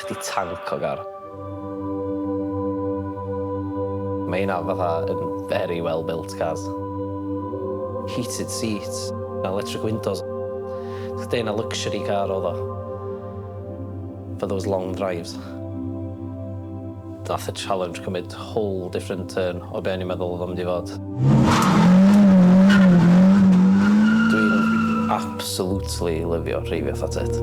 Chdi tanc o gar. Mae hynna fatha yn very well built cars. Heated seats, electric windows. Chdi yn y luxury car oedd o. For those long drives. Nath y challenge cymryd whole different turn o be o'n i'n meddwl odd o'n mynd i fod. Dwi'n absolutely lyfio rheifio fatha tŷt.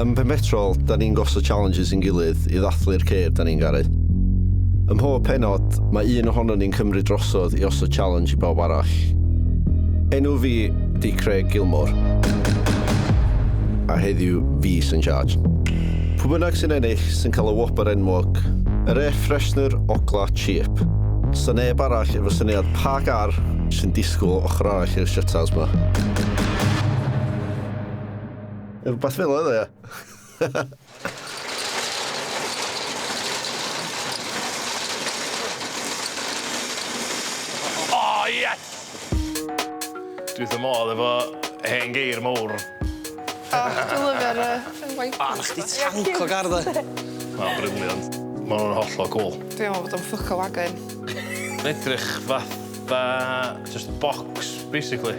Ym Mhenpetrol, da ni'n gosod challenges i'n gilydd i ddathlu'r ceir da ni'n garu. Ym mhob pennod, mae un ohonon ni'n cymryd drosodd i osod challenge i bawb arall. Enw fi 'di Craig Gilmore, a heddiw fi sy'n charge. Pwy bynnag sy'n ennill sy'n cael y whopper enwog, yr air freshener ogla cheap. Sa neb arall efo syniad pa gar sy'n disgwyl ochr arall i'r shutters 'ma. Rhywbeth fel oedd e, ia. oh, yes! Dwi ddim modd efo hen geir mowr. O, dwi'n lyfio'r waith. O, na chdi tanc o gardd e. Mae'n briliant. Mae hwnna'n hollol cool. Dwi'n meddwl bod o'n ffwc o wagon. Mae'n edrych fatha just box, basically.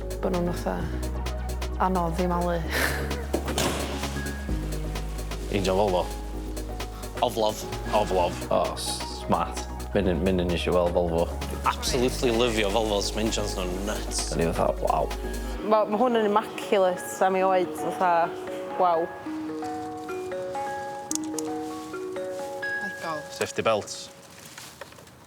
Bod nhw'n fatha anodd i malu. Angel Volvo. Oflof. Oflof. O, smart. Menyn, menyn eisiau weld Volvo. Absolutely lyfio Volvos, mae engines nhw'n nuts. Da ni fatha, waw. Mae ma hwn yn immaculate am ei oed, fatha, waw. Safety belts.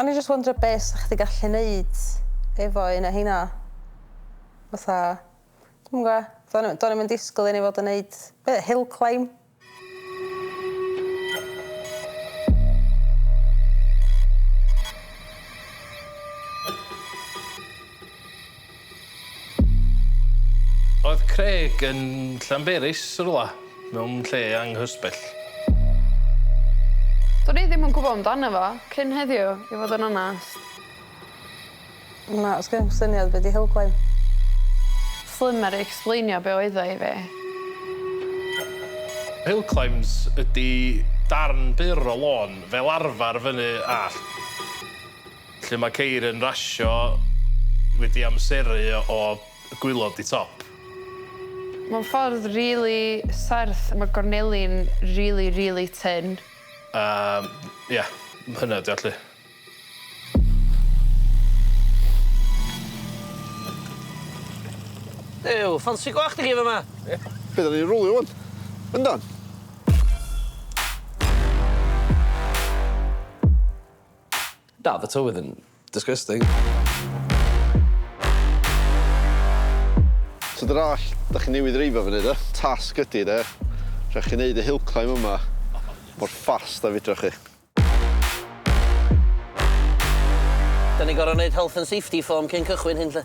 O'n i jyst wondro be' sa chdi gallu neud efo un o rheina. Fatha dwi'm yn gwbo. Do'n i do'n i'm yn disgwl i ni fod yn neud be- hill climb. Oedd Craig yn Llanberis rywle, mewn lle anghysbell. Do'n i ddim yn gwybod amdano fo cyn heddiw, i fod yn onest. Na, sgen i'm syniad be' 'di helpline. Slimer i explainio be' oedd o i fi. Helclimes ydi darn byr o lôn, fel arfar fyny allt. Lle mae ceir yn rasio wedi amseru o gwylod di top. Mae'n ffordd rili serth, mae gorneli'n rili rili tynn. Yym ia, hynna ydi o 'lly. Duw, ffansi gwallt i chi fama! Be' 'dan ni'n rwlio ŵan? Yndan? Na, oedd y tywydd yn disgusting. So dyna all, da chi newydd reifio fyny do? Tasg ydi de, rhaid chi neud y hill climb yma mor fast a fedrwch chi. Da ni gor'o' neud health and safety form cyn cychwyn hyn 'lly.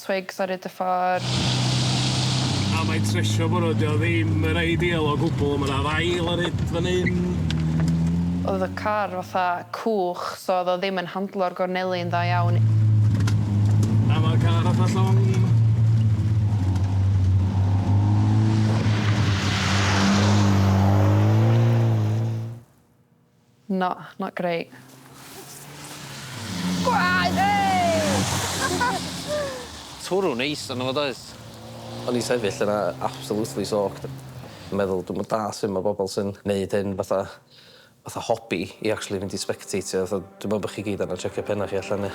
Twigs ar 'yd y ffordd. A mae tresio bore 'di o ddim yn ideal o gwbl, ma' 'na ddail ar 'yd fan 'yn. Oedd y car fatha cwch so oedd o ddim yn handlo'r gorneli'n dda iawn. A ma'r car fatha llong. Na, not great. Gwaed! Twrw neis arno fo does? O'n i'n sefyll yna absolutely soaked yn meddwl dwi'm yn dall' su' ma' bobol sy'n neud hyn fatha fatha hobi i actually mynd i sbecteitio fatha dwi me'wl bo' chi gyd angan checio penna chi allan ia?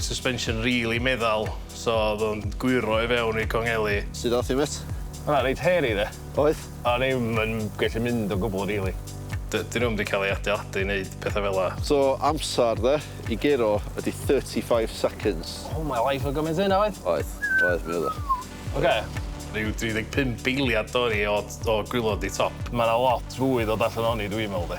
Suspension rili meddal so o'dd o'n gwyro i fewn i'r congeli. Sud ath hi mêt? Oedd o'n reit hairy de. Oedd? O'n i 'm yn gallu mynd o gwbwl rili. D- 'dyn nhw'm 'di cael eu adeiladu i wneud pethau fel 'na. So amser de i guro ydi thirty five seconds. Oh my life oedd gymaint o hynna oedd? Oedd, oedd mi oedd o. Ocê. Ryw dri deg pump eiliad dorri o o gwilod i top. Ma' 'na lot fwy ddod allan ohoni dwi me'wl de.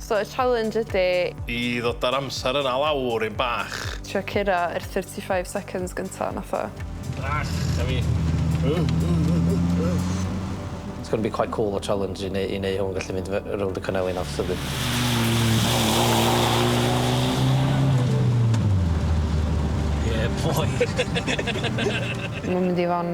So y challenge ydi. I ddod a'r amser yna lawr yn bach. Trio curo yr thirty five seconds gynta nath o. Bach a fi. It's gonna be quite cool o challenge i neu- i neu' hwn gallu mynd fy- rownd y cynefin a Yeah boy. Ma'n mynd i fo' yn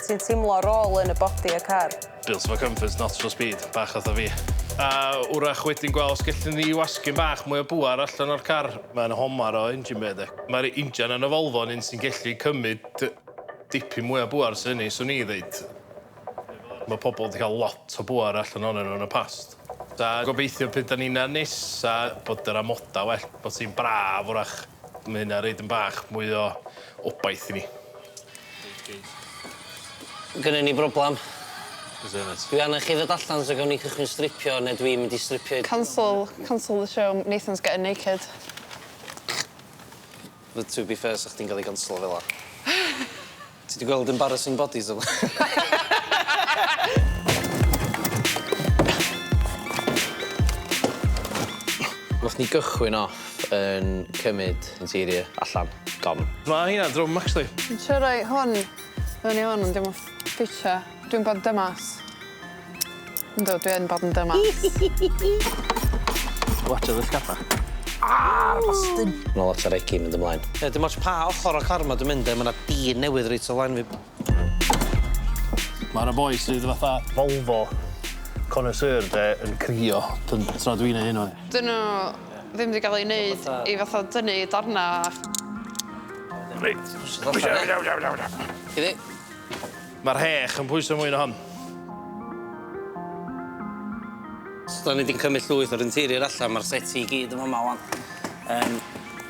Ti'n teimlo roll yn y body y car? Built for comfort, not for speed, bach fatha fi. A wrach wedyn gweld os gellwn ni wasgu'n bach mwy o bŵer allan o'r car. Mae'n homar o engine bay de. Mae'r injan yn y Volvo yn un sy'n gellu cymryd dipyn mwy o bŵer sy'n hynny, swn i ddeud. Mae pobl wedi cael lot o bŵer allan ohonyn nhw yn y past. A gobeithio pryd dan ni'n ar nes a bod yr amodau well, bod hi'n braf wrach, mae hynna roid yn bach mwy o obaith i ni. Gynnon ni broblam. O's e mêt? Dwi angen chi ddod allan so gawn ni cychwyn stripio ne' dwi mynd i stripio i... Cancel cancel the show Nathan's getting naked. Wel to be fair sa chdi'n ga'l 'i ganslo fel 'a. Ti 'di gweld embarrassing bodies o'r bla'n? Nath ni gychwyn o. Map yn cymyd interior allan. Don. Ma' hynna'n drwm actually. Dwi'n trio roi hwn fyny hwn ond 'di o'm yn ffitio. Dwi'n bod yn dymas. Yndw dwi yn bod yn dymas. Watsia dy sgaffa. Aargh bastun! Ma' 'na lot o regi mynd ymlaen. Ie dim ots pa ochor o'r car ma' dwi mynd de ma' 'na dyn newydd reit o flaen fi. Mae yna boi sydd fatha Volvo connoisseur de yn crio dyn- tra dwi'n neud hyn ŵan. Dyn nhw ddim 'di gael eu wneud i fatha dynnu darnau. Reit. Iddi. Mae'r rhech yn pwyso mwy na hon. So 'dan ni 'di cymryd llwyth o'r interior allan, mae'r settee i gyd yn fama ŵan. Yym.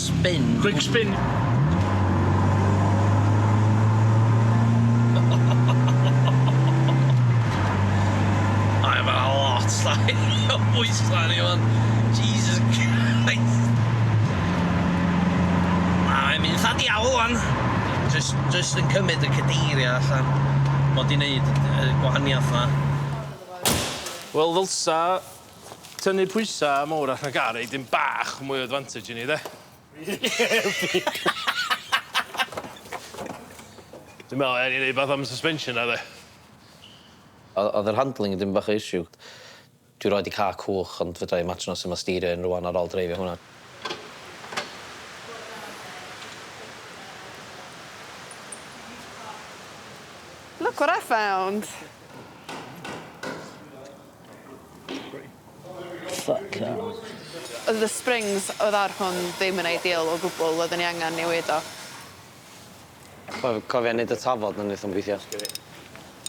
spin. Quick spin. Mae yma lot llai o bwysau ni fan. Jesus Christ. Mae'n mynd lla'n diawl fan. Just, just yn cymryd y cadeiriau allan. Mod i'n neud y gwahaniaeth yma. Wel ddylsa Tynnu pwysa mowr allan o gar roi dipyn bach mwy o advantage i ni 'de? Dwi'n me'wl ewn ni neud wbath am y suspension 'na 'de? O- o'dd yr handling yn dipyn bach o issue. Dwi roid 'di ca'l cwch ond fedrai imaginio su' ma' steerio un rŵan ar ôl dreifio hwnna. Look what I found. Fuck off. Oedd y springs oedd ar hwn ddim yn ideal o gwbwl, oedden ni angen newid o. Co- cofia neud y tafod na neith o'm gwithio.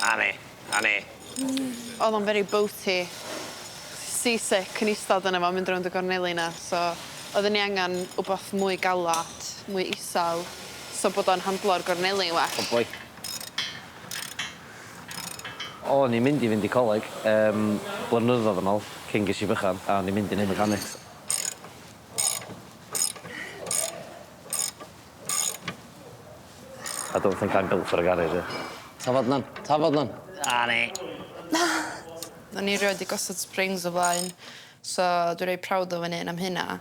A ne, a ne. Odd o'n very boaty. Sea sick yn istad yno fo mynd rownd y gorneli na so oedden ni angen wbath mwy galat, mwy isel so bod o'n handlo'r gorneli yn well. Good boy. O'n i'n mynd i fynd i coleg yym blynyddodd yn ol cyn ges i bychan a o'n i'n mynd i neud mechanics. I don't think I'm built for a garage yy. Tafod lan! Tafod lan! A ni! Na! O'n i rioed 'di gosod springs o flaen so dwi reit proud o fy 'un am hynna.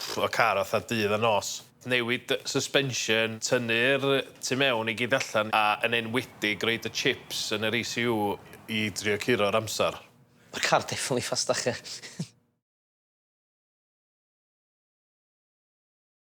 Ffwc o car fatha dydd a nos. Newid y suspension, tynnu'r tu mewn i gyd allan a yn enwedig roid y chips yn yr ECU i drio curo'r amser. Ma'r car definitely faster.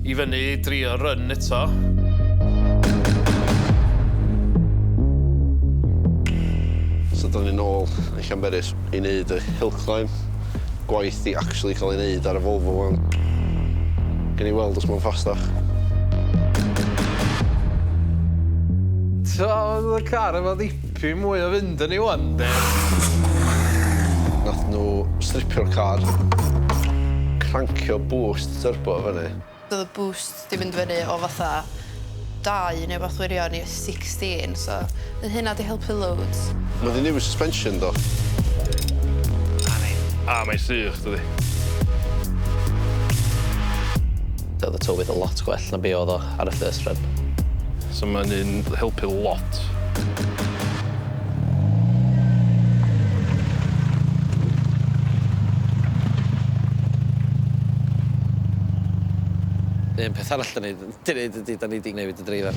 I fyny i drio run eto. So dyna ni nôl yn Llanberis i wneud y hill climb. Gwaith i actually cael ei wneud ar y Volvo wan. Gen i weld os mae'n ffastach. Tra oedd y car efo ddipa Dwi mwy o fynd â ni ŵan 'nde? Nath nhw stripio'r car. Crancio boost turbo i fyny. Do'dd y boost 'di mynd fyny o fatha dau neu wbath wirion i sixteen so fydd hynna 'di helpu loads. Ma' 'di newid suspension do. Na ni. A mae'n sych dydi? Do'dd y tywydd yn lot gwell na be' o'dd o. ar y first run. So mae'n un helpu lot. Un peth arall da ni wedi gwneud ydy, da ni wedi newid y dreifar.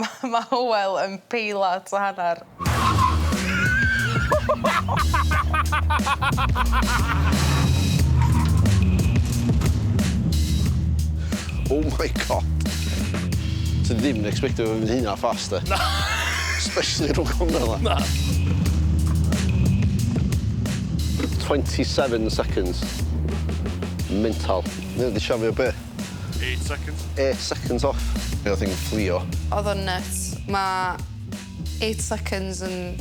Mae ma Hywel yn peilat o hanner. Oh my God! Ti ddim yn expectio fo fynd hynna fast, de? Na! Especially rhwng cornel 'na. Na. 27 seconds. Mental. Mae o 'di siafio be? Eight seconds. Eight seconds off. Mi o'dd hi'n fflio. O'dd o'n nyts. Ma' eight seconds yn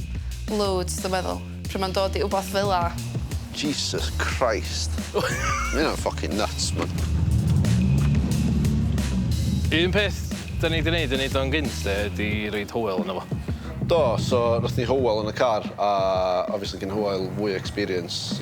loads dwi meddwl. Pry' ma'n dod i wbath fela. Jesus Christ. Ma' ynna'n ffycin nyts man. Un peth 'dan ni 'di neud i neud o'n gynt 'de ydi roid Hywel yno fo. Do so nathon ni Hywel yn y car a obviously gin Hywel fwy o experience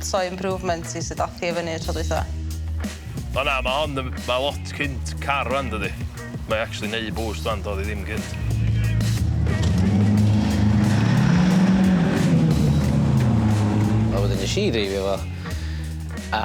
So improvement i sut ath hi i fyny y tro dwytha. O na ma hon yn ma lot cynt car rwan dydi? Mae actually neu boost rwan dodd i ddim cynt. A wedyn nes i dreifio fo a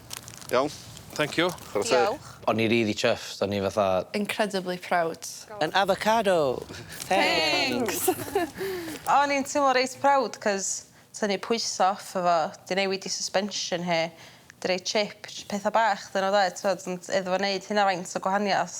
Iawn. Thank you. Chwara teg. Diolch. O'n ni rili chuffed, o'n ni fatha... Incredibly proud. An avocado! Thanks! Thanks! O'n i'n teimlo reit proud 'c'os tynnu pwyse off efo, 'di newid 'i suspension hi, 'di roi chip, js petha bach 'dyn nhw 'de, t'mod, ond iddo fo neud hynna faint o gwahaniath.